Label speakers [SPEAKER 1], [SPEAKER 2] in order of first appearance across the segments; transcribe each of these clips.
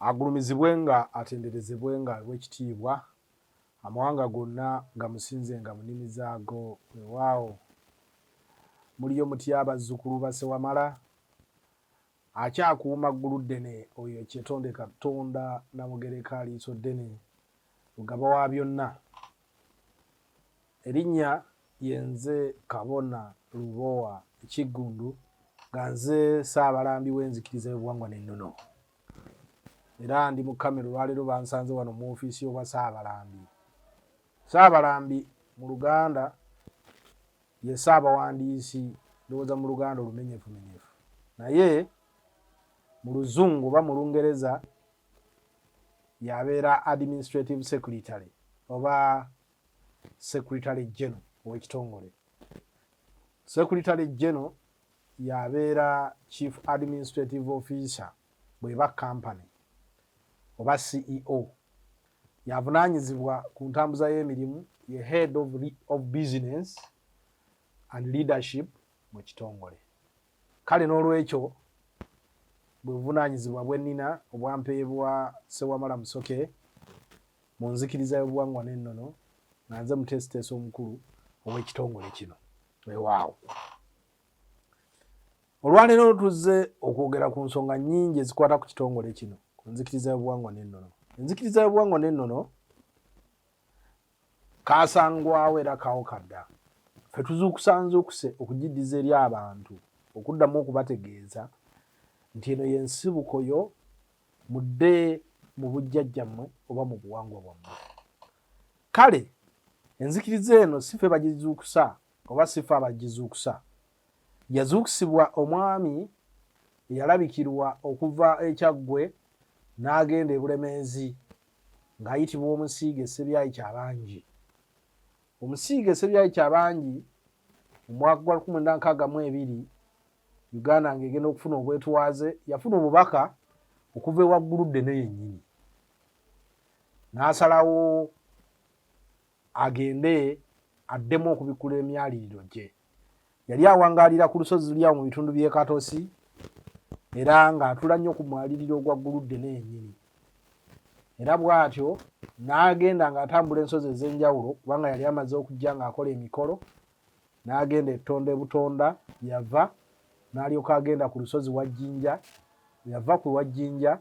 [SPEAKER 1] Agulumizibwe nga atenderezebwe nga w'ekitiibwa, amawanga gonna gamusinzenga mu nnimi zaago. Weewaawo, muliyo mutya bazzukulu ba Ssewamala? Akyakuuma Gguluddene oyo ekyetonde Katonda Namugereka Liisoddene, Lugaba wa byonna. Erinnya lye nze Kabona Lubowa Kiggundu nga nze Ssaabalambi w'enzikiriza y'obuwangwa n'ennono era ndi mu kamera olwaleero bansanze wano mu ofiisi y'obwa Ssaabalambi. Ssaabalambi mu Luganda ye Ssaabawandiisi ndowooza mu Luganda olumenyefumenyefu naye mu Luzungu oba mu Lungereza yabeera administrative secretary oba secretary general owekitongole secretary general yabeera chief administrative officer bweba company oba ceo yavunanyizibwa ku ntambuza y'emirimu ye head of, of business and leadership mu kitongole Kale n'olwekyo bwe buvunaanyizibwa bwe nnina obwampeebwa Ssewamala Musoke mu nzikiriza y'obuwangwa n'ennono nga nze muteesiteesi omukulu ow'ekitongole kino. Weewaawo. Olwaleero tuzze okwogera ku nsonga nnyingi ezikwata ku kitongole kino ku nzikiriza y'obuwangwa n'ennono. Enzikiriza y'obuwangwa n'ennono Kaasangwawo era kawoka dda. Ffe tuzuukusa nzuukuse okugiddiza eri abantu okuddamu okubategeeza nti eno ye nsibuko yo mudde mu bujjajjammwe oba mu buwangwa bwammwe. Kale enzikiriza eno si ffe bagizuukusa oba si ffe abagizuukusa Yazuuksibwa omwami eyalabikirwa okuva e Kyaggwe n'agenda e Bulemeezi ng'ayitibwa Omusiige Ssebyayi Kyabangi. Omusiige Ssebyayi Kyabangi mu mwaka gwa lukumi lwenda nkaaga mu ebiri Uganda ng'egenda okufuna obwetwaze yafuna obubaka okuva ewa Gguluddene yennyini n'asalawo agende addemu okubikkula emyaliriro gye yali awangaalira ku lusozi lulyawo mu bitundu by'e katosi era ng'atula nnyo ku mwaliriro ogwa gguludde n'enyini era bw'atyo n'agenda ng'atambula ensozi ez'enjawulo kubanga yali amaze okujja ng'akola emikolo n'agenda ettonda ebutonda yava n'alyoka agenda ku lusozi wajjinja yava ku wajjinja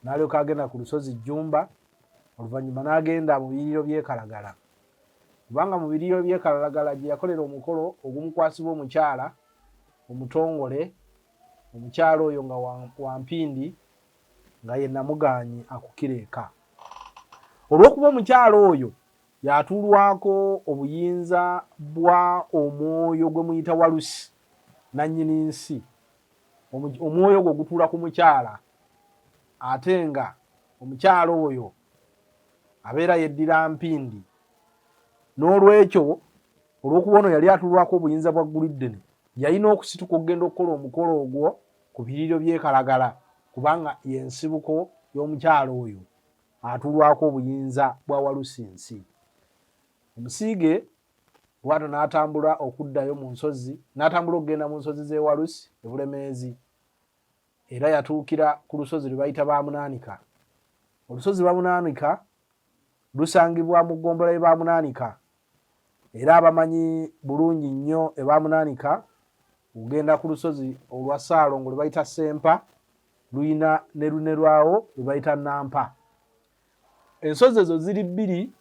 [SPEAKER 1] n'alyoka agenda ku lusozi Jjumba oluvannyuma n'agenda mu biyiriro by'ekalagala kubanga mu biyiriro by'ekalagala gye yakolera omukolo ogumukwasibwa omukyala omutongole omukyala oyo nga wampindi nga ye namugaanyi akukira eka olw'okuba omukyala oyo yatuulwako obuyinza bwa omwoyo gwe muyita walusi nannyini nsi omwoyo ogwo gutuula ku mukyala ate nga omukyala oyo abeera yeddira mpindi n'olwekyo olw'okuba ono yali atulwako obuyinza bwa gguliddene yalina okusituka okugenda okukola omukolo ogwo ku biriiro by'ekalagala kubanga y'ensibuko y'omukyala oyo atulwako obuyinza bwa walusinsi omusiige bwato n'atambula okuddayo mu nsozi n'atambula okugenda mu nsozi z'ewalusi ebulemeezi era yatuukira ku lusozi lwe bayita bamunaanika olusozi bamunaanika lusangibwa mu ggombola ye bamunaanika era abamanyi bulungi nnyo ebamunaanika ogenda ku lusozi olwa saalongo lwe bayita sempa luyina ne lune lwawo lwe bayita nampa ensozi ezo ziri bbiri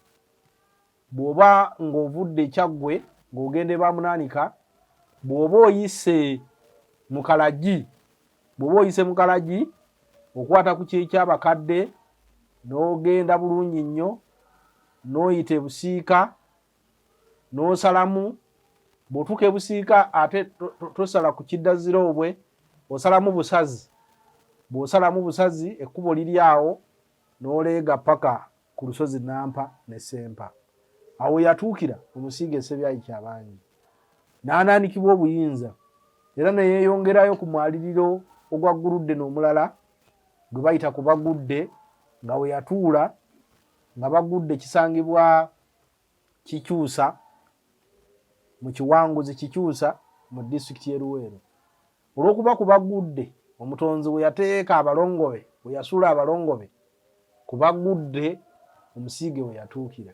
[SPEAKER 1] bw'oba ng'ovudde kyaggwe ng'ogenda ebamunaanika bw'oba oyise mu kalagi bw'oba oyise mu kalagi okwata ku kyekyabakadde n'ogenda bulungi nnyo n'oyita ebusiika n'osalamu bw'otuuka ebusiika ate tosala ku kiddazira obwe osalamu busazi bw'osalamu busazi ekkubo liri awo n'oleega paka ku lusozi Nampa ne Sempa. Awo yatuukira omusiige Ssebyayi Kyabangi n'anaanikibwa obuyinza era ne yeeyongerayo ku mwaliriro ogwa Guludde n'omulala gwe bayita ku Bagudde nga we yatuula nga Bagudde kisangibwa kikyusa mu kiwanguzi kikyusa mu disitulikiti y'e Luweero olw'okuba ku bagudde omutonzi bwe yateeka abalongobe bwe yasuula abalongobe ku bagudde omusiige we yatuukira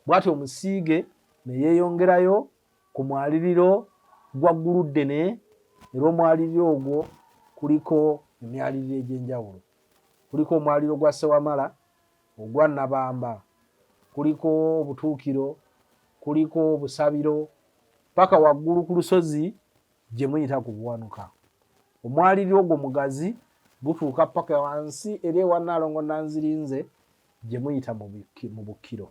[SPEAKER 1] bw'atyo omusiige ne yeeyongerayo ku mwaliriro gwa gguluddene era omwaliriro ogwo kuliko emyaliriro egy'enjawulo kuliko omwaliro gwa Sewamala Ogwa Nabamba kuliko Obutuukiro, kuliko Obusabiro, paka waggulu ku lusozi gye muyita ku Buwanuka. Omwaliriro ogwo mugazi gutuuka paka wansi era ewa Nnaalongo Nanzirinze gye muyita mu Bukkiro.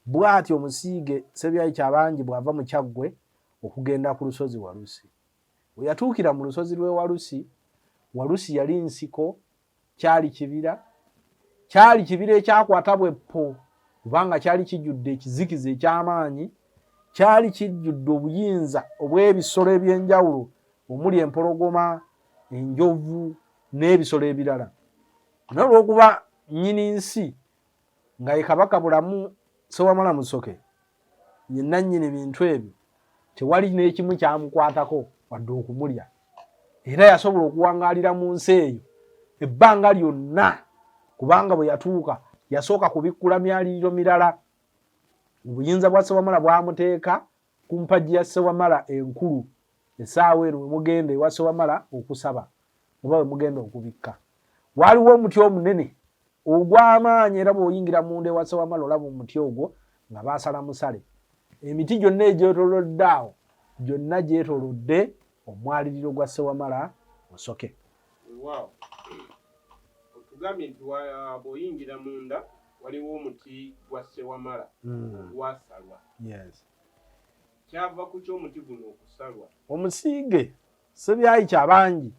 [SPEAKER 1] Bw'atyo omusiige Ssebyayi Kyabangi bw'ava mu Kyaggwe okugenda ku lusozi Walusi. We yatuukira mu lusozi lw'e Walusi, Walusi yali nsiko kyali kibira kyali kibira ekyakwata bweppo kubanga kyali kijjudde ekizikiza eky'amaanyi kyali kijjudde obuyinza obw'ebisolo eby'enjawulo omuli empologoma enjovu n'ebisolo ebirala naye olwokuba nnyini nsi nga ye kabaka bulamu sewamala musoke ye nannyini bintu ebyo tewali n'ekimu kyamukwatako wadde okumulya era yasobola okuwangaalira mu nsi eyo ebbanga lyonna kubanga bwe yatuuka yasooka kubikkula myaliriro mirala obuyinza bwa sewamala bwamuteeka ku mpagi ya Ssewamala enkulu esaawa eno wemugenda ewa Ssewamala okusaba oba wemugenda okubikka waaliwo omuti omunene ogw'amaanyi era bw'oyingira munda ewa Ssewamala olaba omuti ogwo nga baasala musale emiti gyonna egyetolodde awo gyonna gyetolodde omwaliriro gwa Ssewamala Musoke.
[SPEAKER 2] Weewaawo otugambye nti bw'oyingira munda waliwo omuti gwa ssewamala hmm. gwasalwa
[SPEAKER 1] kyava
[SPEAKER 2] ku ky'omuti guno okusalwa omusiige
[SPEAKER 1] sebyayi kyabangi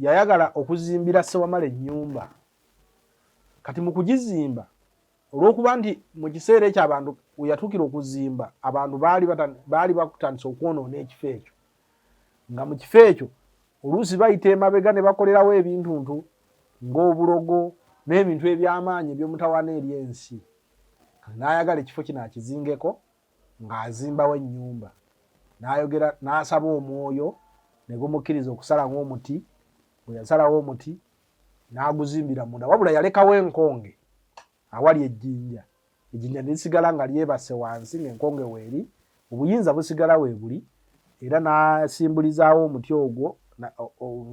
[SPEAKER 1] yayagala okuzimbira ssewamala ennyumba kati mu kugizimba olwokuba nti mu kiseera ekyo abantu weyatuukira okuzimba abantu baali batandise okwonoona ekifo ekyo nga mu kifo ekyo oluusi bayita emabega ne bakolerawo ebintuntu ng'obulogo n'ebintu eby'amaanyi eby'omutawana eri ensi kati n'ayagala ekifo kino akizingeko ng'azimbawo ennyumba n'ayogera n'asaba omwoyo ne gumukkiriza okusalawo omuti bwe yasalawo omuti n'aguzimbira munda wabula yalekawo enkonge Awali ejjinja, ejjinja ne lisigala nga lyebase wansi ng'enkonge weeri, obuyinza busigala weebuli, era n'asimbulizaawo omuti ogwo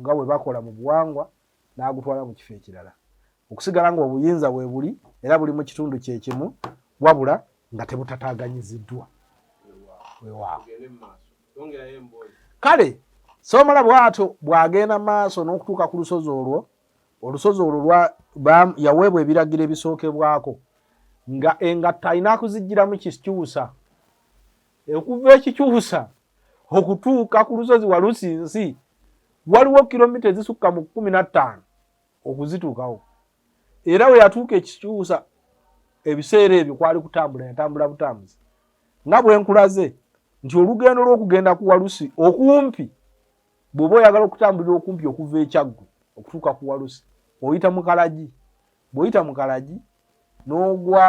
[SPEAKER 1] nga bwe bakola mu buwangwa n'agutwala mu kifo ekirala, okusigala ng'obuyinza weebuli era buli mu kitundu kye kimu wabula nga tebutataganyiziddwa. Kale Soomola bw'atyo bw'agenda mu maaso n'okutuuka ku lusozi olwo olusozi olwo lwa yaweebwa ebiragiro ebisookebwako nga engatto alina akuzijjiramu kikyusa okuva ekikyusa okutuuka ku lusozi walusi nsi waliwo kilomita ezisukka mu kumi na ttaano okuzituukawo era we yatuuka ekikyusa ebiseera ebyo kwali kutambula yatambula butambuzi nga bwenkulaze nti olugendo lw'okugenda ku walusi okumpi bw'oba oyagala okutambulira okumpi okuva ekyaggwe okutuuka ku walusi oyita mu kalagi bw'oyita mu kalagi n'ogwa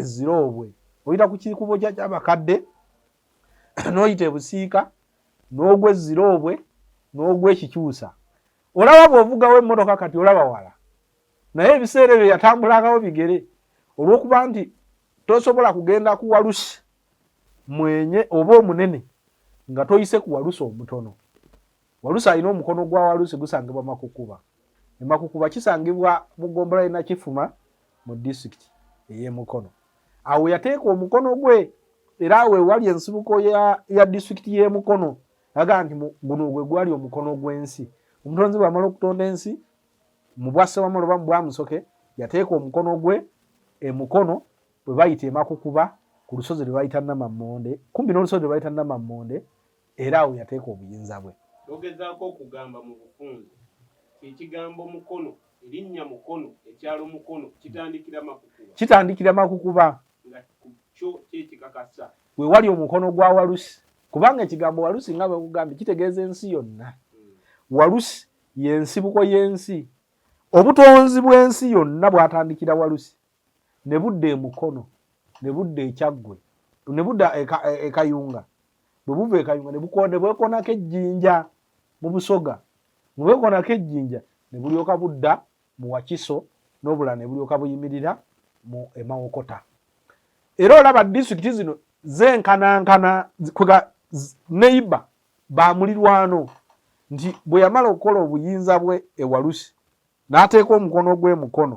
[SPEAKER 1] eziroobwe oyita ku kikubo kya kyabakadde n'oyita ebusiika n'ogwa eziroobwe n'ogwa ekikyusa olaba bw'ovugawo emmotoka kati olaba wala naye ebiseera ebyo yatambulangawo bigere olw'okuba nti tosobola kugenda ku walusi mwenye oba omunene nga toyise ku walusi omutono. Walusi alina omukono gwa walusi gusangibwa Makukuba. E Makukuba kisangibwa mu ggombolola y'e Nakifuma mu disitulikiti ey'e Mukono. Awo yateeka omukono gwe era awo ewali ensibuko ya disitulikiti y'e Mukono aga nti guno gwe gwali omukono gw'ensi. Omutonzi bw'amala okutonda ensi mu bwa Ssewamala oba mu bwa Musoke yateeka omukono gwe e Mukono bwe bayita emakukuba ku lusozi lwe bayita namammonde kumpi n'olusozi lwe bayita namammonde era awo yateeka obuyinza bwe bogezaako okugamba
[SPEAKER 2] mu bufunzi kyekigambo mukono erinnya mukono ekyalo mukono kitandikira makukuba
[SPEAKER 1] kitandikira makukuba nga
[SPEAKER 2] kyo kyekikakasa we wali omukono
[SPEAKER 1] gwa walusi kubanga ekigambo walusi nga bwekugambye kitegeeza ensi yonna hmm. walusi yensibuko y'ensi obutonzi bw'ensi yonna bwatandikira walusi ne budda emukono ne budda ekyaggwe ne budda ekayunga e, e bwe buva ekayunga ne bwekonako ejjinja mu busoga ne bwekonako ejjinja ne bulyoka budda mu wakiso n'obulala ne bulyoka buyimirira mu emawokota era olaba disitulikiti zino zenkanankana neiba ba mulirwano nti bwe yamala okukola obuyinza bwe ewalusi n'ateeka omukono gw'emukono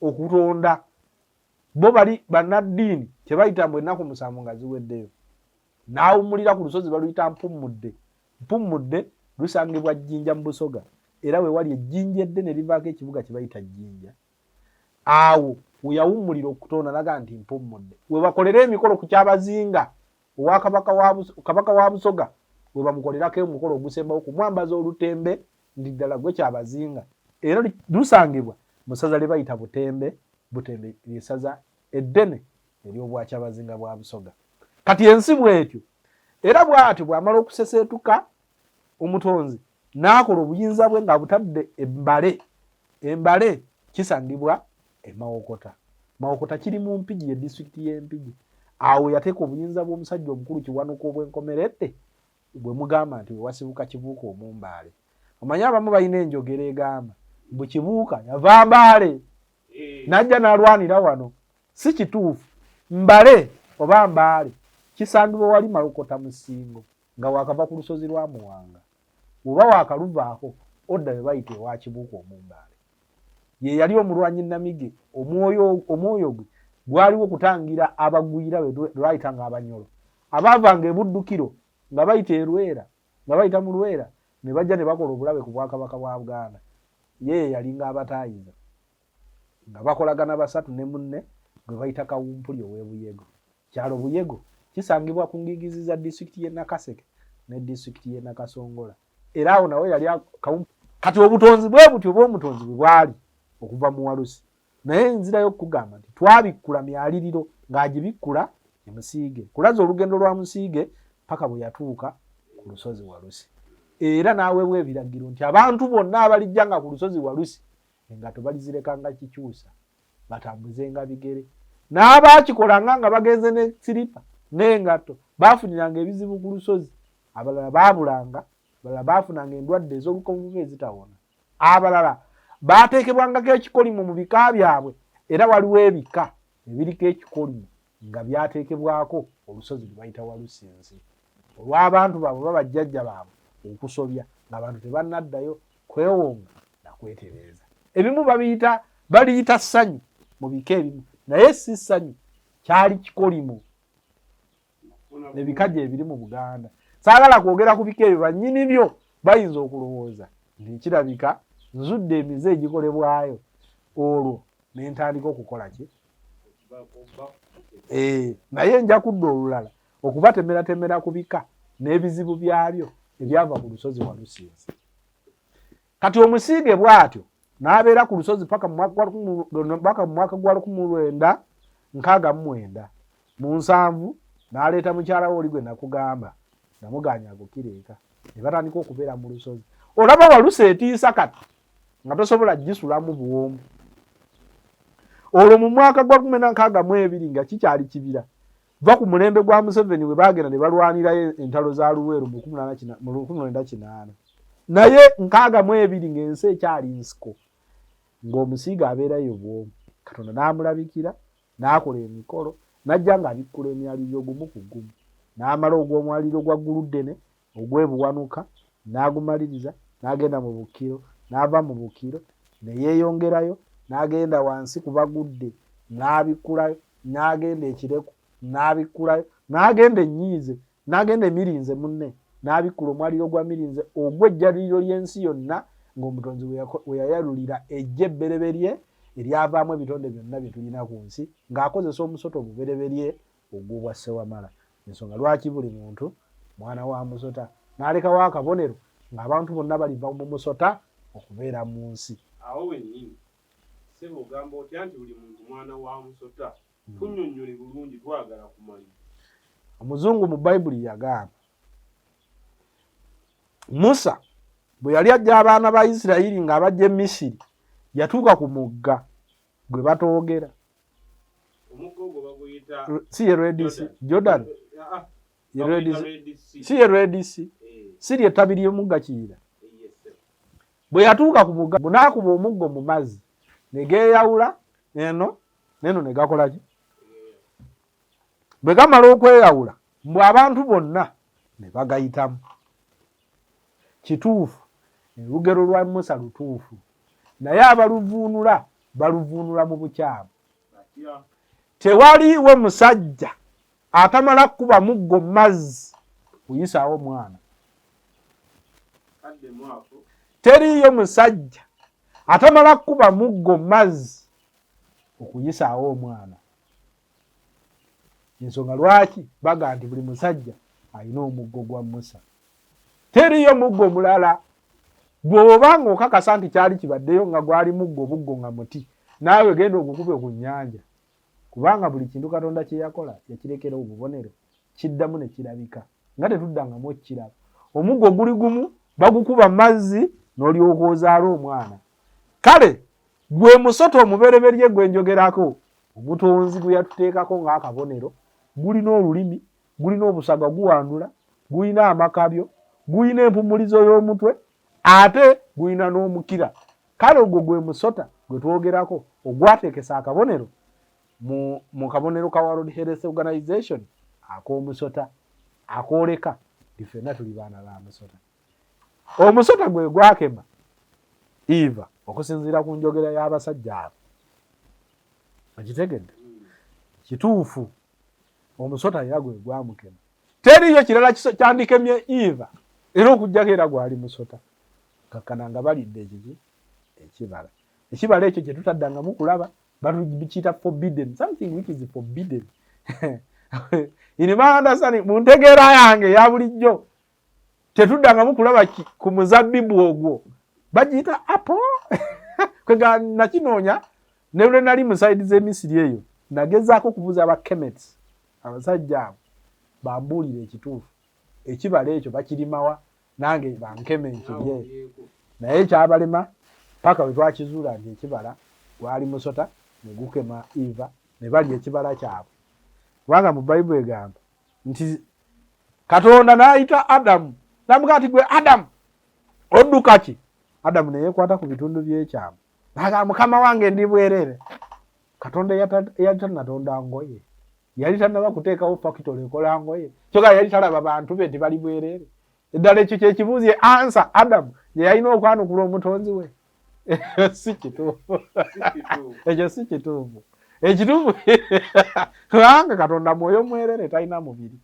[SPEAKER 1] okutonda bo bali bannaddiini kyebayita mbu ennaku musanvu nga ziweddeyo n'awummulira ku lusozi baluyita mpummudde mpummudde lusangibwa jjinja mu busoga era we wali ejjinja eddene livaako ekibuga kye bayita jjinja awo weyawummulira okutonda naga nti mpummudde we bakolera emikolo ku kyabazinga owa kabaka wa busoga we bamukolerako omukolo ogusembawo kumwambaza olutembe Ndi ddala gwe Kyabazinga era lusangibwa mu ssaza lye bayita Butembe. Butembe lye ssaza eddene ery'Obwakyabazinga bwa Busoga. Kati ensi bw'etyo. Era bw'atyo bw'amala okuseseetuka Omutonzi n'akola obuyinza bwe ng'abutadde e Mbale. E Mbale kisangibwa e Mawokota. Mawokota kiri mu Mpigi, ye disitulikiti y'e Mpigi. Awo yateeka obuyinza bw'omusajja omukulu Kiwanuka obw'enkomeredde Bwe mugamba nti we wasibuka Kibuuka Omumbaale, omanyi abamu balina enjogera egamba mbu Kibuuka yava Mbaale eh. n'ajja n'alwanira wano. Si kituufu. Mbale oba Mbaale kisangibwa wali Malokota mu Ssingo nga waakava ku lusozi lwa Muwanga. Bw'oba waakaluvaako odda we bayita ewa Kibuuka Omumbaale. Ye yali omulwanyi Namige, omwoyo gwe gwaliwo kutangira abagwira lwe bayita ng'Abanyolo. abaavanga e Buddukiro nga bayita e Lwera nga bayita mu Lwera ne bajja ne bakola obulabe ku Bwakabaka bwa Buganda. Ye ye yalinga abataayiza nga bakolagana basatu ne munne gwe bayita Kawumpuli ow'e Buyego. Kyalo Buyego kisangibwa ku ngiigizi za disitulikiti y'e Nakaseke ne disitulikiti y'e Nakasongola era awo nawo yali Kawumpuli. Kati obutonzi bwe butyo Bwomutonzi bwe bwali okuva mu Walusi. naye nzirayo okukugamba nti twabikkula myaliriro ng'agibikkula e musiige kulaza olugendo lwa musiige paka bwe yatuuka ku lusozi walusi era n'aweebwa ebiragiro nti abantu bonna abalijja nga ku lusozi walusi nga tebalizireka nga kikyusa batambuze nga bigere n'abaakikolanga nga bagenze ne siripa n'engatto baafuniranga ebizibu ku lusozi abalala baabulanga abalala baafunanga endwadde ez'olukonvuba ezitawona abalala baateekebwangako ekikolimo mu bika byabwe era waliwo ebika ebiriko ekikolimo nga byateekebwako olusozi lwe bayita walusinzi olw'abantu baabwe baba jjajja baabwe okusobya ng'abantu tebannaddayo kwewonga na kwetereeza ebimu babiyita baliyita ssanyu mu bika ebimu naye si ssanyu kyali kikolimo ebikaji ebiri mu buganda saagala kwogera ku bika ebyo bannyini byo bayinza okulowooza nti nkirabika nzudde emize egikolebwayo olwo ne ntandika okukola ki eh, naye nja kudda olulala okubatemeratemera ku bika n'ebizibu byabyo ebyava ku lusozi walusinzi kati omusiige bwatyo n'abeera ku lusozi paka mu mwaka gwa lukumu lwenda nkaaga mu mwenda mu nsanvu n'aleeta mukyala we oli gwe nakugamba namugaanya agukira eka ne batandika okubeera mu lusozi olaba walusa etiisa kati nga tosobola gisulamu buwoomu olwo mu mwaka gwa kumi na nkaaga mu ebiri nga kikyali kibira va ku mulembe gwa museveni we bagenda ne balwanirayo entalo za luweero mu lukumi lwenda kinaana naye nkaaga mu ebiri ng'ensi ekyali nsiko ng'omusiiga abeerayo bwomu katonda n'amulabikira n'akola emikolo n'ajja ng'abikkula emyaliriro gumu ku gumu n'amala ogw'omwaliriro gwa gguluddene ogw'e Buwanuka n'agumaliriza, n'agenda mu Bukiro, n'ava mu Bukiro ne yeeyongerayo, n'agenda wansi ku Bagudde n'abikkulayo, n'agenda e Kireku n'abikkulayo, n'agenda e Nyiize, n'agenda e Mirinze munne n'abikkula omwaliiro gwa Mirinze ogw'ejjaluliro ly'ensi yonna ng'Omutonzi we yayalulira eggye ebbereberye eryavaamu ebitonde byonna bye tulina ku nsi ng'akozesa omusota ogubereberye Ogubwa Ssewamala y'ensonga lwaki buli muntu mwana wa musota n'alekawo akabonero ng'abantu bonna baliva mu musota okubeera mu nsi. Awo
[SPEAKER 2] wennyini
[SPEAKER 1] ssebo
[SPEAKER 2] ogamba otya nti buli muntu mwana wa musota? Hmm. Tunnyonnyole bulungi twagala kumanya. Omuzungu
[SPEAKER 1] mu Bayibuli yagamba Musa bwe yali ajja abaana ba Isirayiri ng'abajja e Misiri yatuuka ku mugga gwe batoogera
[SPEAKER 2] si ye redc
[SPEAKER 1] jordan ah, ah. si ye redc
[SPEAKER 2] eh.
[SPEAKER 1] si lye ttabi ly'omugga kiyira bwe yatuuka ku mugga bunaakuba omuggo mu mazzi ne geeyawula eno neno ne gakolaki bwe gamala okweyawula mbu abantu bonna ne bagayitamu Kituufu olugero lwa Musa lutuufu naye abaluvuunula baluvuunula mu bukyamu. Tewaliiwo musajja atamala kukuba muggo mu mazzi kuyisaawo mwana. Teriiyo musajja atamala kukuba muggo mu mazzi okuyisaawo omwana. Ensonga lwaki bagamba nti buli musajja alina omuggo gwa Musa. Teriyo muggo mulala gwoba nga okakasa nti kyali kibaddeyo nga gwali muggo buggo nga muti naawe genda ogukube ku nnyanja kubanga buli kintu Katonda kye yakola yakirekera obubonero kiddamu ne kirabika nga tetuddangamu okukiraba. Omuggo guli gumu bagukuba mazzi n'olyoka ozaala omwana. Kale gwe musota omubereberye gwe njogerako omutonzi gwe yatuteekako ng'akabonero gulina olulimi gulina obusaga guwandula gulina amakabyo gulina empumulizo y'omutwe ate gulina n'omukira kale ogwo gwe musota gwe twogerako ogwateekesa akabonero mu kabonero ka world health organization ak'omusota akooleka ifenna tuli baana ba musota omusota gwe gwakema eva okusinziira ku njogera y'abasajja abo okitegedde kituufu omusota era gwe gwamukema teriyo kirala kyandikemye eva era okujjako era gwali musota kakkana nga balidde ekiki ekibala ekibala ekyo kye tutaddangamu kulaba batukiyita forbidden something which is forbidden inimaandasani mu ntegeera yange ya bulijjo tetuddangamu kulaba ku muzabbibu ogwo bagiyita apo kwega nakinoonya ne lwe nali mu saidi z'emisiri eyo nagezaako okubuuza abakemets abasajja abo bambuulire ekituufu ekibala ekyo bakirimawa nange bankeme nkirye naye kyabalema paka bwe twakizuula nti ekibala gwali musota ne gukema eva ne balya ekibala kyabwe kubanga mu bayibuli egamba nti katonda n'ayita adamu namugaa nti gwe adamu odduka ki adamu neyekwata ku bitundu byekyama nagaa mukama wange ndi bwerere katonda yali tanatonda ngoye yali tanaba kuteekawo fakitole ekola ngoye kyoga yali talaba bantu be nti bali bwerere eddala ekyo kyekibuuzi ansa adamu gyeyalina okwanukula omutonzi we si kituufu ekyo si kituufu ekituufu kubanga katonda mwoyo mwerere talina mubiri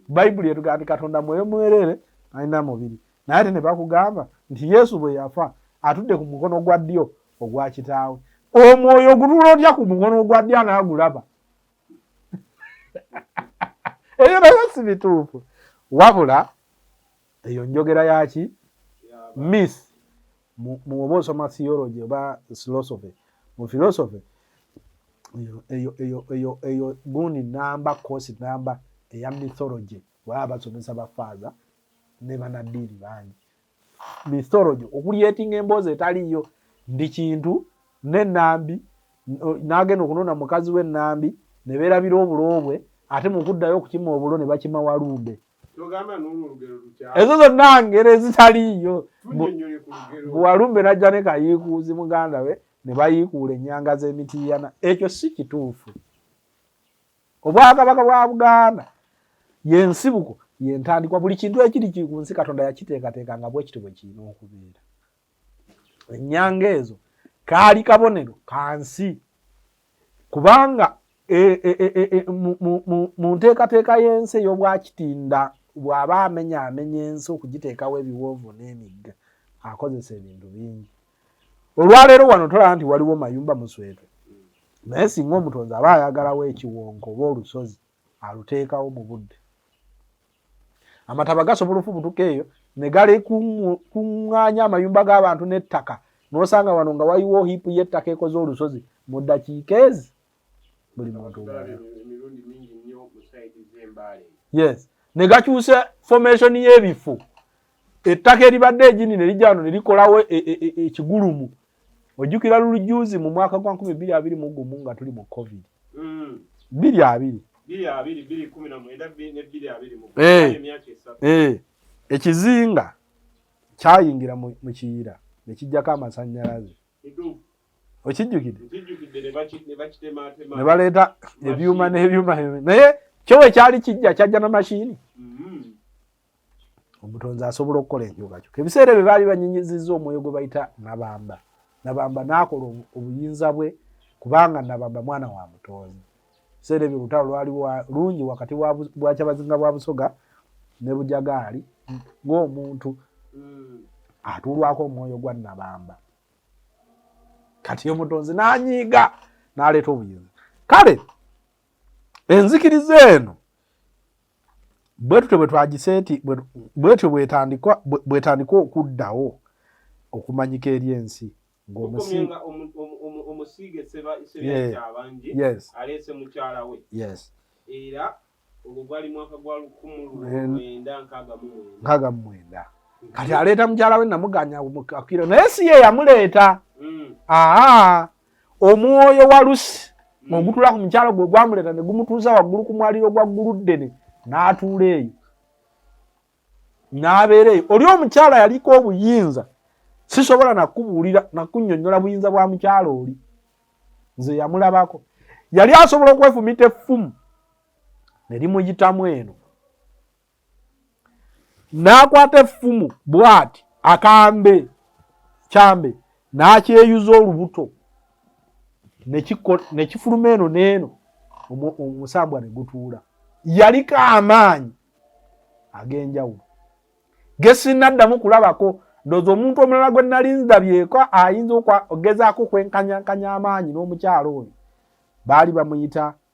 [SPEAKER 1] bayibuli etugaa nti katonda mwoyo mwerere talina mubiri naye ate ne bakugamba nti yesu bwe yafa atudde ku mukono gwa ddyo ogwa kitaawe omwoyo ogutula otya ku mukono ogwa ddyo anaagulaba ebyo nabyo si bituufu wabula eyo njogera yaki myth muwoba osoma theology oba philosophy mu philosophy eyo gundi namba kosi namba eya mythology waba basomesa bafaaza ne banaddiini bangi mythology okuliyetinga emboozi etaliiyo ndi kintu nenambi nagenda okunona mukazi we nambi neberabira obulo bwe ate mukuddayo okukima obulo ne bakima walumbe ezo zonna ngero ezitaliiyo bwewalumbe najja ne kayiikuuzi muganda we ne bayiikuula ennyanga z'emitiiyana ekyo si kituufu obwakabaka bwa buganda yensibuko yentandikwa buli kintu ekiri ku nsi katonda yakiteekateeka nga bwekiti bwe kirina okubeera ennyanga ezo kaali kabonero kansi kubanga e, e, e, mu nteekateeka y'ensi ey'obwakitinda bw'aba amenya amenya ensi okugiteekawo ebiwoovu n'emigga akozesa ebintu bingi olwaleero wano tolaba nti waliwo mayumba muswetwe naye singa omutonzi aba ayagalawo ekiwonko oba olusozi aluteekawo mu budde amataba gasobola ofubutuka eyo ne galekuŋŋaanya amayumba g'abantu n'ettaka n'osanga wano nga waliwo hiipu y'ettaka ekoze olusozi mu ddakiika ezi buli muntu
[SPEAKER 2] yes ne
[SPEAKER 1] gakyusa fomation y'ebifo ettaka eribadde egini ne lijja wano ne likolawo e, e, e, ekigulumu ojjukira lulujuuzi mu mwaka gwa nkumi bbiri abiri mu gumu nga tuli mu covid mm. bbiri abiri eh. eh. ekizinga kyayingira mu kiyira ne kijjako amasannyalaze okijjukidde ne baleeta ebyuma n'ebyuma naye kyowe kyali kijja kyajja na mashini mm-hmm. omutonzi asobola okukola enkyukakyuka ebiseera ebyo baali banyinyizizza omwoyo gwe bayita nabamba nabamba naakola obuyinza bwe kubanga nabamba mwana wa mutonzi ebiseera ebyo olutalo lwali lungi wakati bwakyabazinga bwa busoga ne bujagaali ng'omuntu mm. atuulwako omwoyo gwa nabamba kati omutonzi n'anyiiga n'aleeta obuyinza kale enzikiriza eno bwetutyo bwetwagiseti bwetyo bwetandikwa bwetandikwa okuddawo okumanyika eri ensi ngomusiige
[SPEAKER 2] sebabangi aleese mukyala we era ogwo gwali mwaka gwa lukumu lwenda nkaaga mu mwenda kati aleeta
[SPEAKER 1] mukyala we namuganya akira naye si ye yamuleeta hmm. aa omwoyo wa lusi ogutula ku mukyalo gwe gwamuleeta ne gumutuuza waggulu ku mwaliro gwa gguluddene n'atuula eyo n'abeera eyo oli omukyalo yaliko obuyinza sisobola nakubuulira nakunyonyola buyinza bwa mukyalo oli nze yamulabako yali asobola okwefumita effumu ne limuyitamu eno n'akwata effumu bw'ati akambe kyambe n'akyeyuza olubuto ne kifuluma eno n'eno omusambwa ne gutuula yaliko amaanyi ag'enjawulo ge sinnaddamu kulabako ndooza omuntu omulala gwe nali nzdabyeko ayinza okugezaako okwenkanyankanya amaanyi n'omukyalo oyo baali bamuyita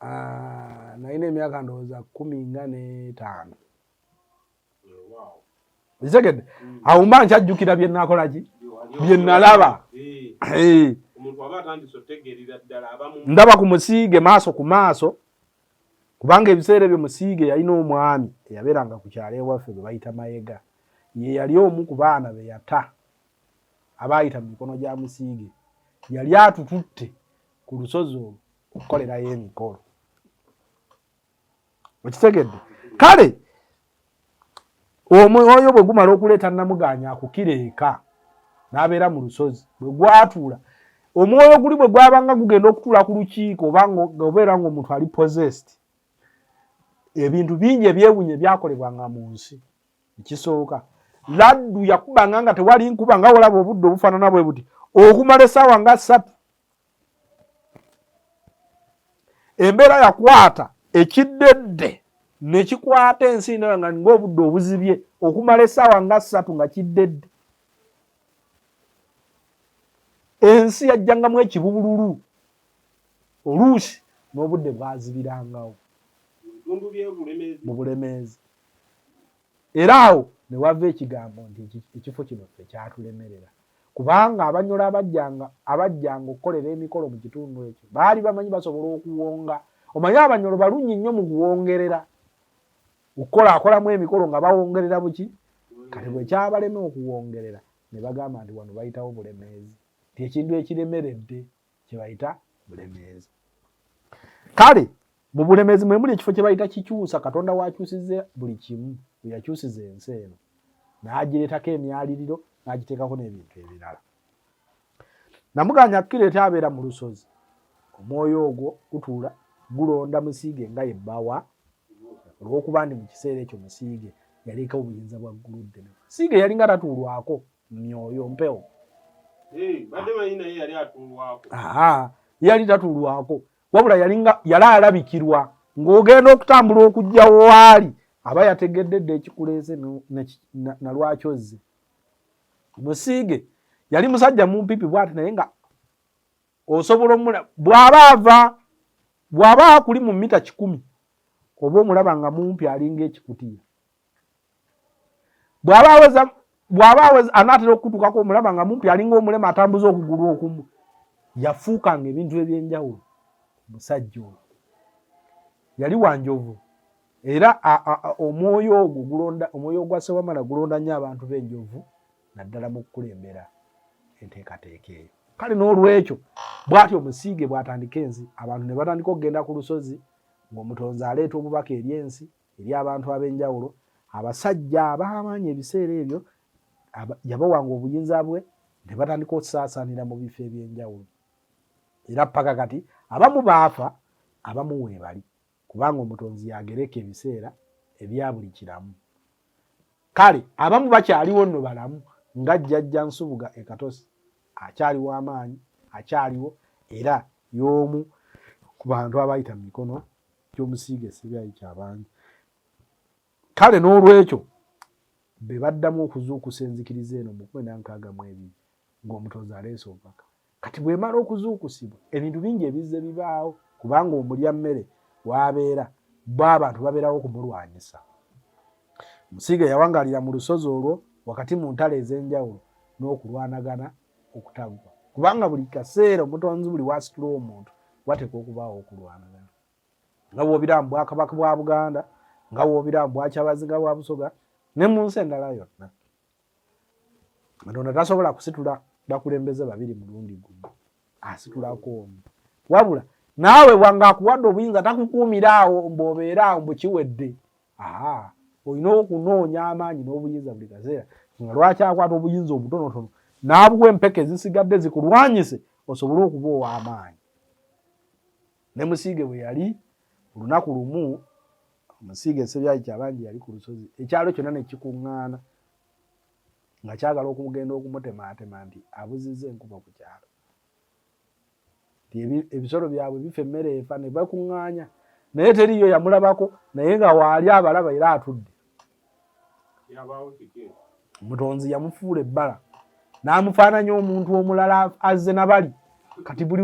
[SPEAKER 1] Ah, nalina emyaka ndowooza kumi nga n'etaano ekitegedde mm. awo mba nkyajjukira bye nakola ki bye nalaba eh. Eh. ndaba ku musiige maaso ku maaso kubanga ebiseera ebyo musiige yalina omwami eyabeeranga ku kyalo ewaffe bwe bayita mayega ye yali omu ku baana be yata abaayita mu mikono gya musiige yali atututte ku lusozi olwo okukolerayo emikolo okitegedde kale omwoyo bwe gumala okuleeta namugaanya akukira eka n'abeera mu lusozi bwe gwatuula omwoyo guli bwe gwabanga gugenda okutuula ku lukiiko obanga obeera ngaomuntu ali possessed ebintu bingi ebyewunya ebyakolebwanga mu nsi ekisooka laddu yakubanga nga tewali nkuba nga olaba obudde obufaanana bwe buti okumala essaawa nga ssatu embeera yakwata ekiddedde nekikwata ensi ndala nga ninga obudde obuzibye okumala esaawa nga ssatu nga kiddedde ensi yajjangamu ekibubululu oluusi n'obudde bwazibirangawo mu bulemeezi Era awo ne wava ekigambo nti ekifo kino ffe kyatulemerera, kubanga Abanyoro abajjanga abajjanga okukolera emikolo mu kitundu ekyo baali bamanyi basobola okuwonga. Omanyi Abanyoro balungi nnyo mu kuwongerera, okukolakolamu emikolo nga bawongerera buki. Kati bwe kyabalema okuwongerera ne bagamba nti wano bayitawo Bulemeezi, nti ekintu ekiremeredde. kyebayita bulemeezi kale mu bulemeezi mwemuli ekifo kyebayita kikyusa katonda wakyusiza buli kimu weyakyusiza ensi eno nagireetako emyaliriro nagiteekako n'ebintu ebirala namuganya kukireeta abeera mu lusozi omwoyo ogwo gutuula gulonda musiige nga yebbawa olwokuba ndi mu kiseera ekyo musiige yaleekawo obuyinza bwa ggulu ddene musiige yalinga tatuulwako myoyo mpewo
[SPEAKER 2] eh, yali
[SPEAKER 1] tatulwako wabula yali alabikirwa ng'ogenda okutambula okujja waali aba yategedde dda ekikuleese nalwaki ozze musiige yali musajja mumpipi bwati naye nga osobola omula bwaba ava bwaba akuli mu mita kikumi oba omulaba nga mumpi alinga ekikutiya bwaba aweza bwaba aweza anaatera okukutukako omulaba nga mumpi alinga omulema atambuza okugulu okumu yafuuka nga ebintu ebyenjawulo musajja oyo yali wanjovu era omwoyo ogwo gulonda omwoyo ogwa sewamala gulonda nnyo abantu b'enjovu naddala mu kukulembera enteekateeka eyo kale n'olwekyo bwati omusiige bwatandika ensi abantu ne batandika okugenda ku lusozi ng'omutonzi aleeta obubaka eri ensi eri abantu ab'enjawulo abasajja abaamaanyi ebiseera ebyo yabawanga obuyinza bwe ne batandika okusaasaanira mu bifo eby'enjawulo era paka kati abamu baafa abamu weebali kubanga omutonzi yagereka ebiseera ebya buli kiramu kale abamu bakyaliwo nno balamu nga jjajja nsubuga ekatosi akyaliwo amaanyi akyaliwo era y'omu ku bantu abayita mu mikono ky'omusiige esibyayi kyabangi kale n'olwekyo be baddamu okuzuukusa enzikiriza eno mu kumi nankaaga mu ebiri ng'omutonzi aleese obubaka kati bwemala okuzuukusibwa ebintu bingi ebizze bibaawo kubanga omulya mmere waabeera bo abantu babeerawo okumulwanyisa musiige yawangaalira mu lusozi olwo wakati mu ntalo ez'enjawulo n'okulwanagana okutaggwa kubanga buli kaseera omutonzi buli wasitula omuntu wateeka okubaawo okulwanagana nga wobiramu bwakabaka bwa buganda nga wobiramu bwakyabazinga bwa busoga ne mu nsi endala yonna katonda tasobola kusitula bakulembeze babiri mulundi gumu asitulako omu wabula naawe wanga akuwadde obuyinza takukuumira awo mbu obeere awo mbu kiwedde aha olina okunoonya amaanyi n'obuyinza buli kaseera nga lwaki akwata obuyinza obutonotono n'abuwa empeke ezisigadde zikulwanyise osobole okuba ow'amaanyi ne musiige bwe yali olunaku lumu musiige esebyayi kyabangi yali ku lusozi ekyalo kyonna ne kikuŋŋaana nga kyagala okumugenda okumutemaatema nti abuzizza enkuba ku kyalo ebisolo byabwe bifa emmere efa ne bakuŋŋaanya naye teriiyo yamulabako naye nga waali abalaba era atudde mutonzi yamufuula ebbala n'amufaananya omuntu omulala azze na bali kati buli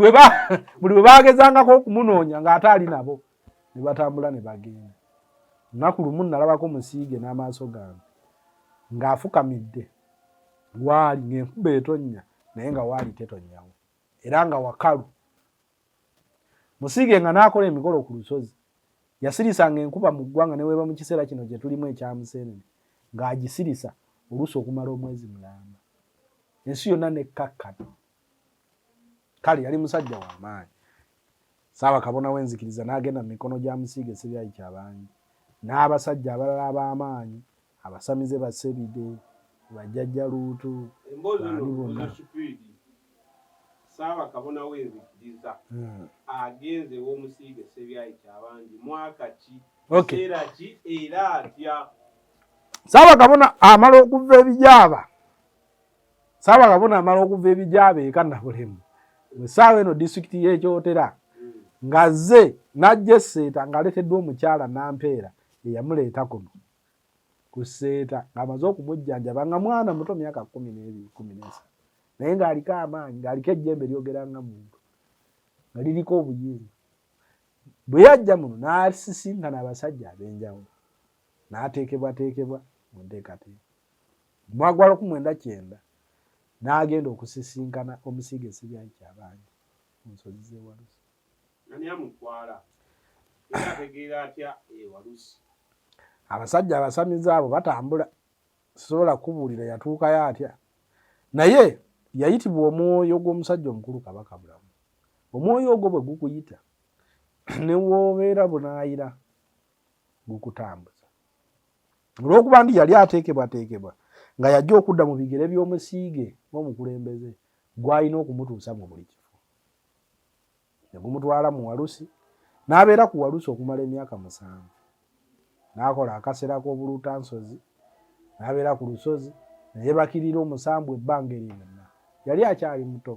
[SPEAKER 1] we baagezangako okumunoonya ng'ate ali nabo ne batambula ne bagenda nnaku lumu nnalabako musiige n'amaaso gange ng'afukamidde waali ng'enkuba etonnya naye nga waali tetonyawo era nga wakalu musiige nga n'akola emikolo ku lusozi yasirisanga enkuba mu ggwanga ne weeba mu kiseera kino gye tulimu ekya museenene ng'agisirisa oluusi okumala omwezi mulamba ensi yonna nekkakkana kale yali musajja w'amaanyi saaba kabona w'enzikiriza n'agenda mu mikono gya musiige sibyayi kyabangi n'abasajja abalala ab'amaanyi Abasamize ba Sebide, ba Jjajja Luutu, Emboozi eno baali bonna. Muzo Kipiridi,
[SPEAKER 2] Ssaabakabona w'Enzikiriza, Hmm. agenze ew'Omusiige Ssebyayi Kyabangi mwaka ki, Okay. kiseera ki era atya? Ssaabakabona
[SPEAKER 1] amala okuva ebijaaba. Ssaabakabona amala okuva ebijaaba eka Nabulemu mu ssaawa eno disitulikiti y'e Kyotera Mm. ng'azze n'ajja esseeta ng'aleeteddwa omukyala Nampeera eyamuleeta kuno. ku seeta ng'amaze okumujjanjaba nga mwana muto myaka kkumi n'ebiri kkumi n'esatu naye ng'aliko amaanyi ng'aliko ejjembe lyogera nga muntu nga liriko obuyinza bwe yajja muno n'asisinkana abasajja ab'enjawulo n'ateekebwateekebwa mu nteekateeka mwagwala ku mwenda kyenda n'agenda okusisinkana omusiige sibyayi kyabangi mu nsozi z'ewalusi
[SPEAKER 2] abasajja
[SPEAKER 1] abasamize abo batambula sisobola kubuulira yatuukayo atya naye yayitibwa omwoyo gw'omusajja omukulu kabaka bulamu omwoyo ogwo bwe gukuyita newoobeera bunaayira gukutambuza olw'okuba nti yali ateekebwateekebwa nga yajja okudda mu bigere by'omusiige ng'omukulembeze gwalina okumutuusa mu buli kifo ne gumutwala mu Walusi n'abeera ku Walusi okumala emyaka musanvu. N'akola akasera k'obuluutansozi, n'abeera ku lusozi ne yeebakirira omusambwa ebbanga eryo lyonna. Yali akyali muto.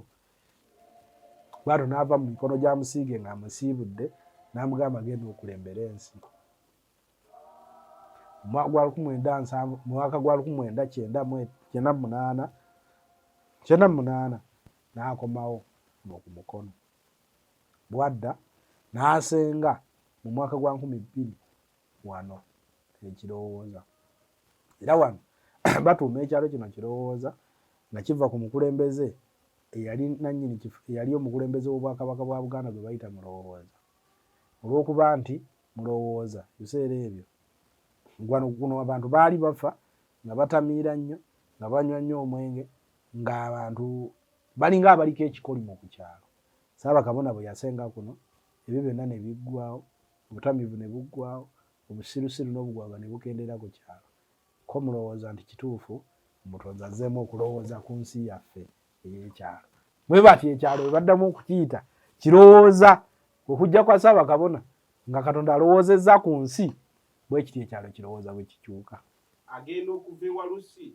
[SPEAKER 1] Bw'atyo n'ava mu mikono gya musiige ng'amusiibudde n'amugamba genda okulembere ensi. omwaka gwa lukumi mwenda nsanvu mwaka gwa lukumi mwenda kyenda kyenda munaana kyenda munaana n'akomawo noku mukono bwadda n'asenga mu mwaka gwa nkumi bbiri wano ekirowooza era wano batuuma ekyalo kino kirowooza nga kiva ku mukulembeze eyali nanyini kifo eyali omukulembeze w'obwakabaka bwa buganda gwe bayita mulowooza olw'okuba nti mulowooza biseera ebyo gwano guno abantu baali bafa nga batamiira nnyo nga banywa nnyo omwenge ng'abantu balinga abaliko ekikolimo ku kyalo saaba kabona bwe yasenga kuno ebyo byonna ne biggwawo obutamiivu ne buggwawo obusirusiru n'obugwagwa ne bukendeera ku kyalo ko mulowooza nti kituufu omutonzi azzeemu okulowooza ku nsi yaffe ey'ekyalo bwe batyo ekyalo bwe baddamu okukiyita kirowooza okujja kwa ssaabakabona nga katonda alowoozezza ku nsi bwe kiti ekyalo kirowooza bwe kikyuka agenda okuva
[SPEAKER 2] ewalusi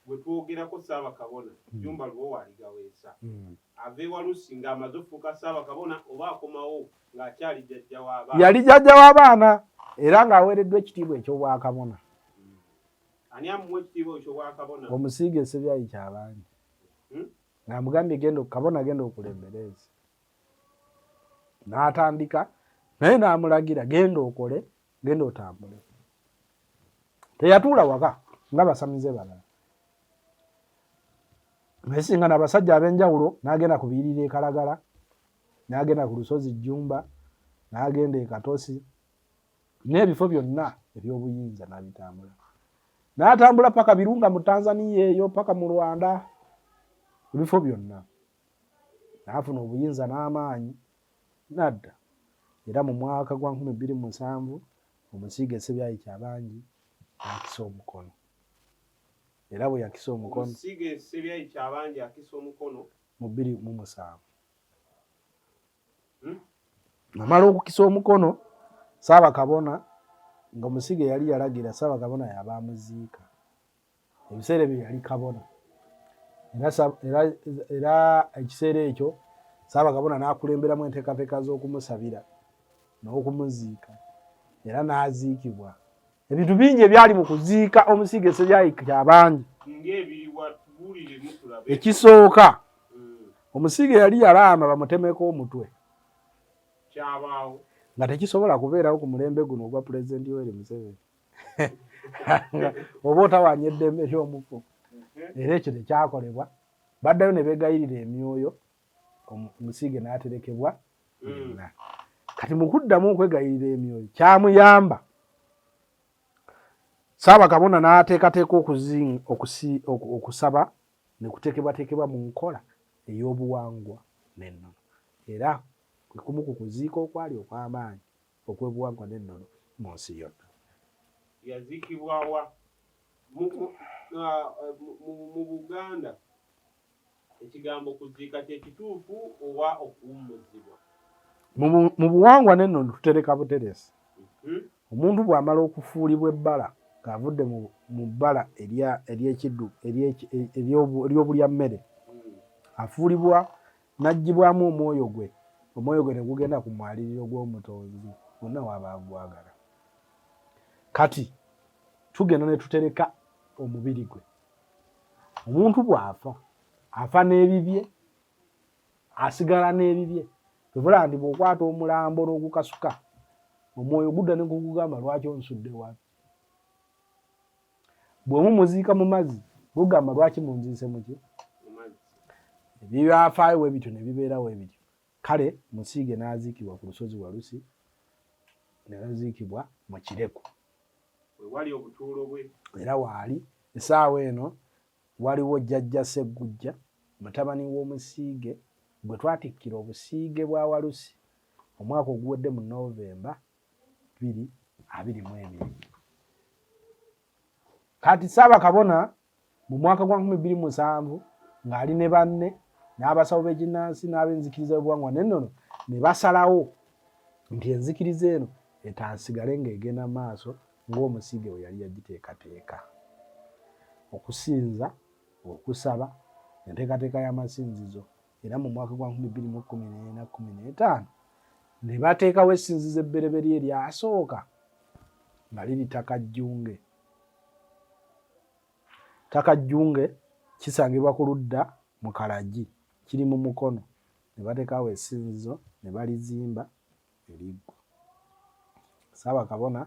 [SPEAKER 2] gwe twogerako ssaabakabona hmm. jumba lubowa aligaweesa hmm. ava ewalusi ng'amaze okufuuka ssaabakabona oba akomawo ng'akyali jjajja w'abaana yali jjajja w'abaana
[SPEAKER 1] era ng'aweereddwa ekitiibwa eky'obwakabona
[SPEAKER 2] Ani amuwa ekitiibwa ekyo bwakabona? Omusiige esebyayi
[SPEAKER 1] kyabandi hmm? ng'amugambye genda kabona genda okulembereezi n'atandika naye n'amulagira genda okole genda otambule teyatuula waka nga basamize balala naye singa nabasajja ab'enjawulo n'agenda ku biyirira ekalagala n'agenda ku lusozi jjumba n'agenda e katosi n'ebifo byonna eby'obuyinza n'abitambula n'atambula paka birunga mu tanzaniya eyo paka mu rwanda ebifo byonna n'afuna obuyinza n'amaanyi nadda era mu mwaka gwa nkumi bbiri mu nsanvu omusiige sebyayi kyabangi akisa omukono era bwe yakisa omukono omusiige sebyayi
[SPEAKER 2] kyabangi akisa omukono mu bbiri mu
[SPEAKER 1] musanvu namala okukisa omukono saaba kabona nga omusiga yali yalagira saaba kabona yaba amuziika ebiseera ebyo yali kabona era ekiseera ekyo saaba kabona nakulemberamu enteekateeka z'okumusabira n'okumuziika era n'aziikibwa ebintu bingi ebyali mu kuziika omusiige esebyayikira abangi ekisooka hmm. omusiige yali yalaama bamutemeko omutwe
[SPEAKER 2] nga
[SPEAKER 1] tekisobola kubeerawo ku mulembe guno ogwa pulezidenti yoweri museveni oba otawanya eddembe ly'omufu era ekyo tekyakolebwa baddayo ne begayirira emyoyo omusiige n'aterekebwa yenna kati mu kuddamu okwegayirira emyoyo kyamuyamba saaba kabona n'ateekateeka okusaba ne kuteekebwateekebwa mu nkola ey'obuwangwa n'ennono era kwe kumu ku kuziika okwali okw'amaanyi okw'obuwangwa n'ennono mu nsi yonna
[SPEAKER 2] yaziikibwawa mu uh, buganda Ekigambo kuziika kye kituufu oba okuwummuzibwa?
[SPEAKER 1] Mu buwangwa n'ennono tutereka buteresi. Hmm? Omuntu bw'amala okufuulibwa ebbala ng'avudde mu bbala ery'ekiddu ery'obulya mmere, hmm. afuulibwa n'aggyibwamu omwoyo gwe, omwoyo gwe ne gugenda ku mwaliriro gw'Omutonzi wonna waba agwagala. Kati tugenda ne tutereka omubiri gwe. omuntu bw'afa afa n'ebibye asigala n'ebibye ebula nti bw'okwata omulambo n'ogukasuka omwoyo gudda ne gugugamba lwaki onsudde wano bwe mumuziika mu mazzi gugamba lwaki munziise muki ebyafaayo we bityo ne bibeera we bityo kale musiige n'aziikibwa ku lusozi walusi ne baziikibwa mu kireku wewali
[SPEAKER 2] obutuulo bwe era waali
[SPEAKER 1] esaawa eno waliwo jjajja seggujja mutabani w'omusiige gwe twatikkira obusiige bwa walusi omwaka oguwedde mu novemba biri abiri mu ebiri kati saabakabona Mu mwaka gwa 2007 ng'ali ne banne n'abasawo b'ekinnansi n'ab'enzikiriza y'obuwangwa n'ennono ne basalawo nti enzikiriza eno etansigale ng'egenda mu maaso ng'omusiige we yali yagiteekateeka okusinza okusaba enteekateeka y'amasinzizo era mu mwaka gwa 2014 ne bateekawo essinzizo ebbereberye eryasooka nga liri ttaka jjunge Ttaka Jjunge kisangibwa ku ludda mu Kalagi kiri mu Mukono ne bateekaawo essinzizo ne balizimba eriggwa. Ssaabakabona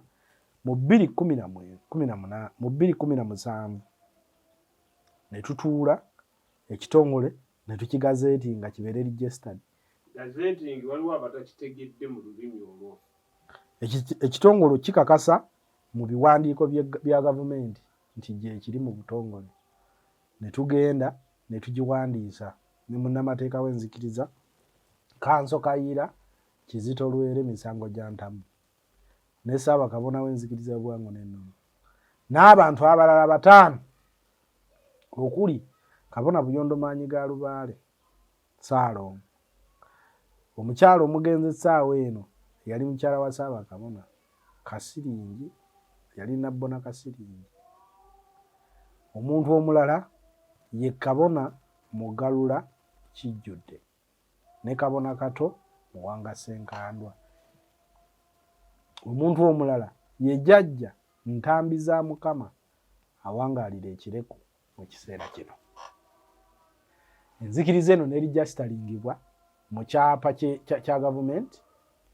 [SPEAKER 1] mu bbiri kkumi na mwe kkumi na muna mu bbiri kkumi na musanvu ne tutuula ekitongole ne tukigazeeti nga kibeere registered. Gazeeti ngi
[SPEAKER 2] waliwo abatakitegedde mu lulimi olwo.
[SPEAKER 1] Ekitongole kikakasa mu biwandiiko bya gavumenti nti gyekiri mu butongole ne tugenda ne tugiwandiisa ne munnamateeka w'enzikiriza kanso kayiira kizito lwere misango gya ntamu ne ssaabakabona w'enzikiriza y'obuwango n'ennono n'abantu abalala bataano okuli kabona buyondo maanyi ga lubaale Ssaalongo. Omukyala omugenzi essaawa eno yali mukyala wa Ssaabakabona Kasiringi, yali Nabbona Kasiringi. Omuntu omulala ye Kabona Mugalula Kijjudde ne Kabona Kato Muwanga Ssenkandwa. Omuntu omulala ye Jajja Ntambi za Mukama awangaalira Ekireku mu kiseera kino enzikiriza eno nerijakitalingibwa mu kyapa kya gavumenti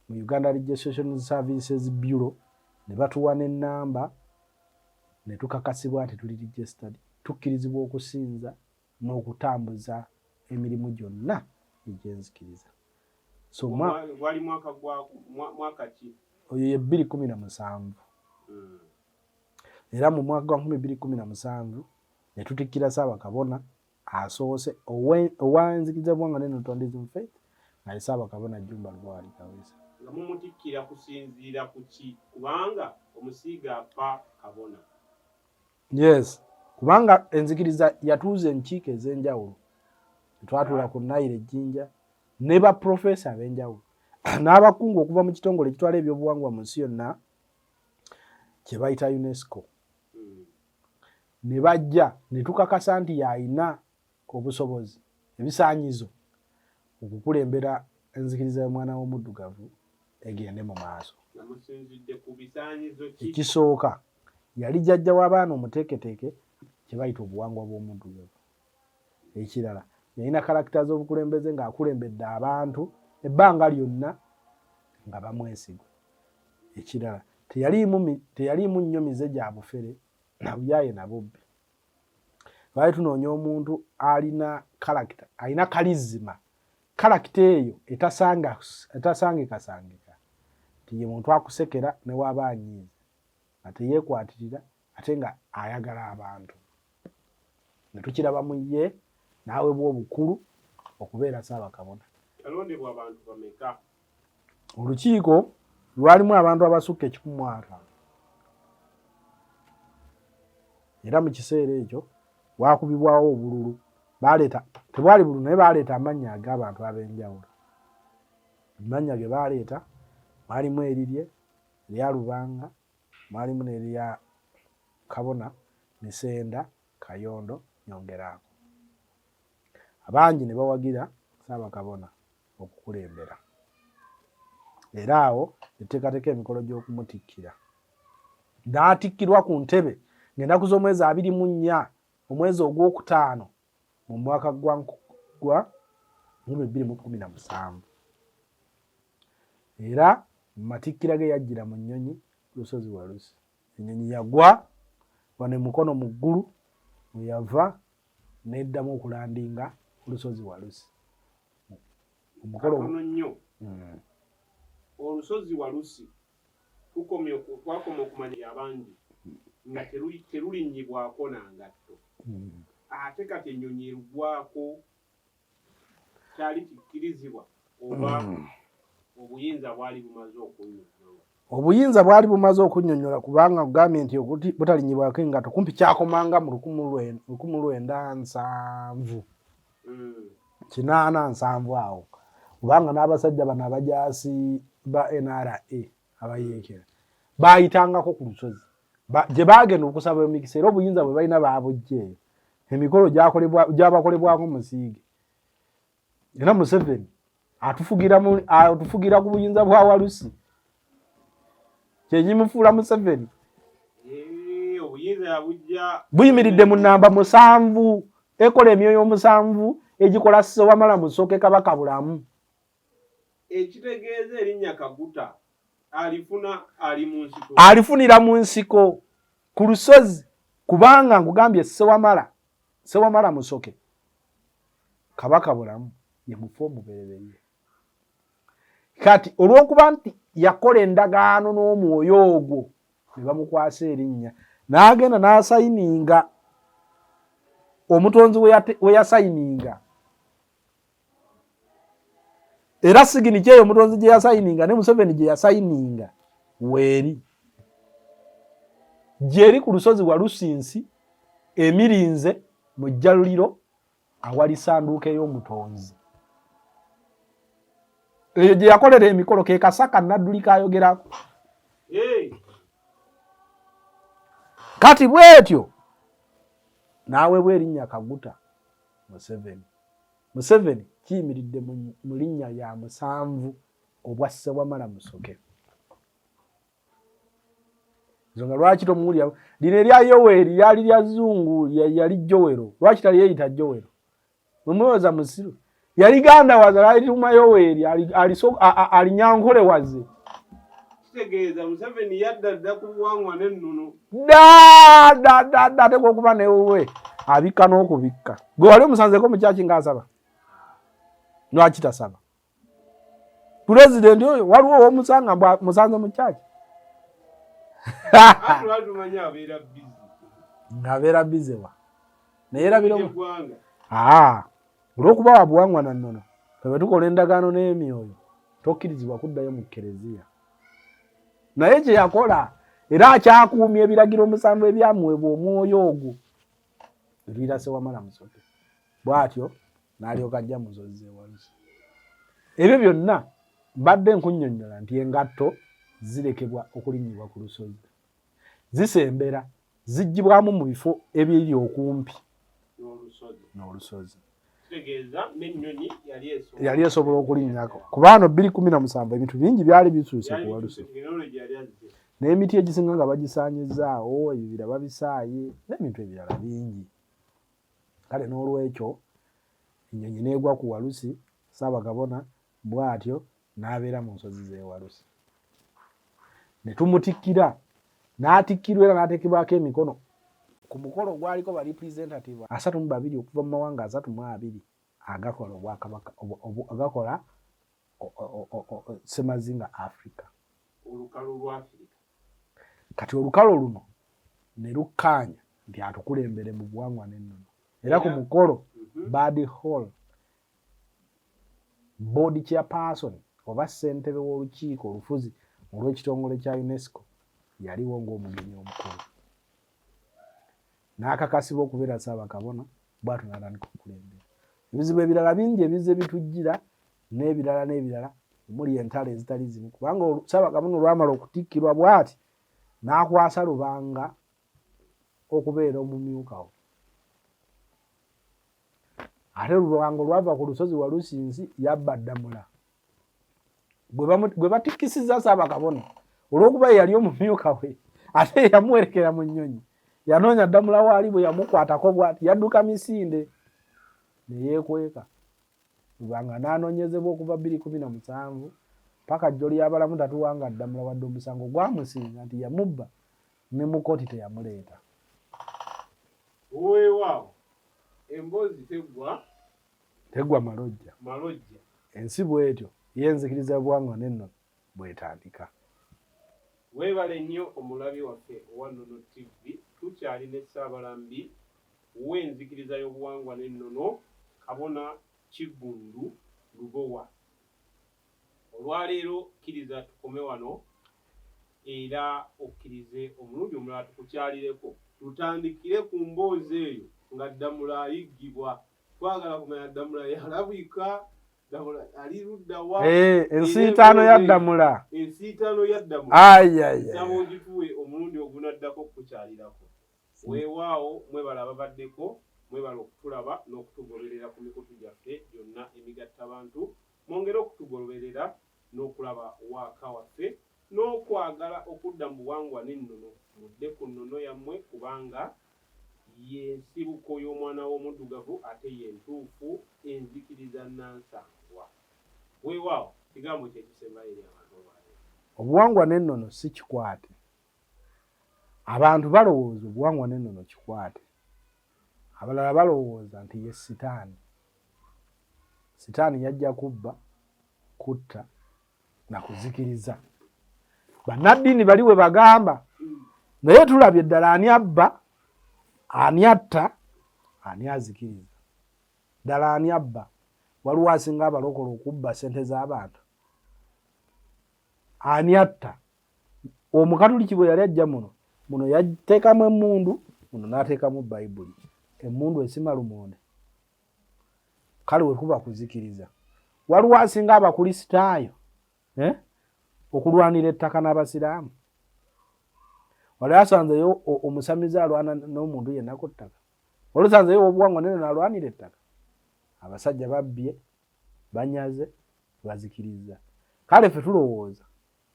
[SPEAKER 1] mu uganda registration services bureau ne batuwa nenamba ne tukakasibwa nti tuli registered tukkirizibwa okusinza n'okutambuza emirimu gyonna egyenzikiriza so
[SPEAKER 2] oyo ye bbiri kumi
[SPEAKER 1] na musanvu hmm. era mu mwaka gwa nkumi bbiri kkumi na musanvu ne tutikkira Ssaabakabona asoose owa enzikiriza y'obuwangwa ne Notwandism Faith nga ye Ssaabakabona Jjumba Lubowa Kaweesa. Nga mumutikkira
[SPEAKER 2] kusinziira ku ki? Kubanga omusiige afa kabona.
[SPEAKER 1] Yes, kubanga enzikiriza yatuuza enkiiko ez'enjawulo. Twatuula ku Nile Ejjinja ne baprofesa ab'enjawulo n'abakungu okuva mu kitongole ekitwala ebyobuwangwa mu nsi yonna kye bayita UNESCO ne bajja ne tukakasa nti y'alina obusobozi ebisaanyizo okukulembera enzikiriza y'omwana w'omuddugavu egende mu maaso. Ekisooka yali jjajja w'abaana omuteeketeeke kye bayita obuwangwa bw'omuddugavu. ekirala yalina kalakita z'obukulembeze ng'akulembedde abantu ebbanga lyonna nga bamwesigwa ekirala teyaliimu nnyo mize gya bufere nabuyaye nabubbi lwali tunoonya omuntu alina kalakita alina kalizima kalakita eyo etasangikasangika tiye muntu akusekera newaaba anyiiza nga teyekwatirira ate nga ayagala abantu ne tukiraba mu ye n'aweebwa obukulu okubeera ssaabakabona yalondebwa abantu
[SPEAKER 2] bameka olukiiko
[SPEAKER 1] lwalimu abantu abasukka ekikumwaka era mu kiseera ekyo wakubibwawo obululu baleeta tebwali bululu naye baleeta amannya ag'abantu ab'enjawulo amannya ge baleeta mwalimu erirye erya lubanga Mwalimu n'erya Kabona Misenda Kayondo Nyongeraako. Abangi ne bawagira Ssaabakabona okukulembera era awo ne tuteekateeka emikolo gy'okumutikkira. N'atikkirwa ku ntebe ng'ennaku z'omwezi abiri mu nnya omwezi ogwokutaano mu mwaka gwa mu bibiri mu kkumi na musanvu. era mu matikkira ge yajjira mu nnyonyi lusozi walusi ennyonyi yagwa wano emukono mu ggulu weyava neddamu okulandinga ku lusozi walusi omukolo
[SPEAKER 2] nnyo hmm. olusozi walusi tukomye twakoma okumanya yabangi nga terulinnyibwako nangatto hmm. ate kati ennyonyi erugwako kyali kikkirizibwa oba hmm. obuyinza bwali bumaze okunyonyola obuyinza bwali
[SPEAKER 1] bumaze okunyonyola kubanga ogambye nti butalinyibwako engato kumpi kyakomanga mu lukumu lwenda nsanvu hmm. kinaana nsanvu awo kubanga n'abasajja bano abajaasi ba nra abayeekera baayitangako ku lusozi gye baagenda okusaba emikisa era obuyinza bwe balina baabujja eyo emikolo gyabakolebwako musiige era museveni atufugira ku buyinza bwa walusi kyenyimufuula museveni
[SPEAKER 2] buyimiridde mu namba
[SPEAKER 1] musanvu ekola emyoyo omusanvu egikola sewamala musooke kabaka bulamu ekitegeeza
[SPEAKER 2] erinnya kaguta alifuna ali mu nsiko
[SPEAKER 1] alifunira mu nsiko ku lusozi kubanga nkugambye sewamala sewamala musoke kabaka bulamu ye mufu omubereberye kati olw'okuba nti yakola endagaano n'omwoyo ogwo ne bamukwasa erinnya n'agenda n'asayininga omutonzi we yasayininga era sigini kyeyo omutonzi gye yasayininga ne museveni gye yasayininga weeri gyeri ku lusozi walusinsi emirinze mu jjaluliro awali sanduuka ey'omutonzi eyo gye yakolera emikolo ke kasaka nadduli kayogerako kati bwetyo n'aweebwa erinnya kaguta museveni museveni kiyimiridde mu linnya ya musanvu obwa sewamala musoke nsonga lwaki tomuwulira lino erya yoweri lyali lya zungu yali jowero lwaki taliyeyita jowero mwemulowoza musiru yali ganda waze lalituma yoweri alinyankole waze kitegeeza
[SPEAKER 2] museveni yadda dda ku buwangwa n'ennono dadadadda
[SPEAKER 1] atekwa okuba newuwe abikka n'okubikka gwe wali omusanzeko mukyaki ngaasaba lwaki tasaba pulezidenti oyo waliwo owomusanga mbw musanze mukyaki ngabeera bizewa naye erabira Olw'okuba wa buwangwa na nnono, ffe bwe tukola endagaano n'emyoyo tokkirizibwa kuddayo mu kereziya. Naye kye yakola era akyakuumya ebiragiro omusanvu ebyamuweebwa omwoyo ogwo ebiira sewamala musoke bw'atyo n'alyoka ajja mu nsozi z'ewalusi. Ebyo byonna mbadde nkunnyonnyola nti engatto zirekebwa okulinnyibwa ku lusozi. zisembera zigibwamu mu bifo ebiri okumpi n'olusozi yali esobola okulinnyako kuba ano bbiri kumi na musanvu ebintu bingi byali bisuuse ku walusi n'emiti egisinga nga bagisaanyizaawo ebibira babisaaye n'ebintu ebirala bingi kale n'olwekyo ennyonyi n'egwa ku walusi saabagabona Bw'atyo n'abeera mu nsozi z'ewalusi. Ne tumutikkira, n'atikkirwa era n'ateekebwako emikono ku mukolo ogwaliko ba representative asatu mu babiri okuva mu mawanga asatu mu abiri agakola obwakabaka agakola semazinga africa kati olukalo luno ne lukkaanya nti atukulembere mu buwangwa n'ennono era ku mukolo mhm. bad hall board chairperson oba ssentebe w'olukiiko olufuzi olw'ekitongole kya UNESCO yaliwo ng'omugenyi omukulu n'akakasibwa okubeera ssaabakabona bwatyo n'atandika okukulembera ebizibu ebirala bingi ebizze bitujjira n'ebirala n'ebirala omuli entalo ezitali zimu kubanga ssaabakabona olwamala okutikkirwa bwati n'akwasa lubanga okubeera omumyuka wo ate lubango lwava ku lusozi walusinzi yabba ddamula gwe batikkisizza saabakabona olw'okuba yeyali omumyuka we ate yamuwerekera mu nnyonyi yanoonya ddamula waali bwe yamukwatako bwati yadduka misinde ne yeekweka lubanga n'anoonyezebwa okuva bbiri kumi na musanvu paka jjo lyabalamu tatuwanga ddamula wadde omusango gwamusinga nti yamubba ne mu kkooti teyamuleeta.
[SPEAKER 2] Weewaawo, emboozi teggwa teggwa malojja
[SPEAKER 1] malojja. Ensi bw'etyo y'enzikiriza y'obuwangwa n'ennono bw'etandika.
[SPEAKER 2] Weebale nnyo omulabi waffe owa Nnono TV. Tukyali ne Ssaabalambi w'enzikiriza y'obuwangwa n'ennono, Kabona Kiggundu Lubowa. Olwaleero kkiriza tukome wano era okkirize omulundi omulala tukukyalireko. Tutandikire ku mboozi eyo nga Ddamula ayiggibwa. Twagala kumanya Ddamula yalabika, Ddamula ali ludda wa? Eh, ensiitaano ya
[SPEAKER 1] Ddamula. Ensiitaano ya
[SPEAKER 2] Ddamula. Ayi, ayi, ayi. Nsaba ogituwe omulundi ogunaddako okukukyalirako. Weewaawo mwebale ababaddeko, mwebale okutulaba n'okutugoberera ku mikutu gyaffe gyonna emigattabantu. Mwongere okutugoloberera n'okulaba waaka waffe n'okwagala okudda mu buwangwa n'ennono. Mudde ku nnono yammwe kubanga ye nsibuko y'omwana w'omuddugavu ate ye ntuufu enzikiriza nnansangwa. Weewaawo, kigambo ki ekisembayo eri abantu olwaleero? Obuwangwa n'ennono
[SPEAKER 1] si kikwate. Abantu balowooza obuwangwa n'ennono kikwate. Abalala balowooza nti ye sitaani. Sitaani yajja kubba, kutta na kuzikiriza. Bannaddiini bali we bagamba, naye tulabye ddala ani abba, ani atta, ani azikiriza. Ddala ani abba? Waliwo asinga abalokola okubba ssente z'abantu? Ani atta? omukatuliki bwe yali ajja muno muno yateekamu emmundu muno n'ateekamu bayibuli emmundu esima lumonde kale wekuba kuzikiriza waliwo asinga abakulisitaayo eh? okulwanira ettaka n'abasiraamu wali asanzeyo omusamize alwana n'omuntu yenna ku ttaka wali osanzeyo obuwangwa nene nalwanira ettaka abasajja babbye banyaze bazikirizza kale fe tulowooza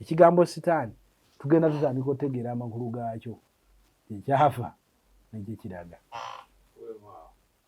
[SPEAKER 1] Ekigambo sitaani tugenda tutandika otegeera amakulu gaakyo, gye kyava ne gye kiraga.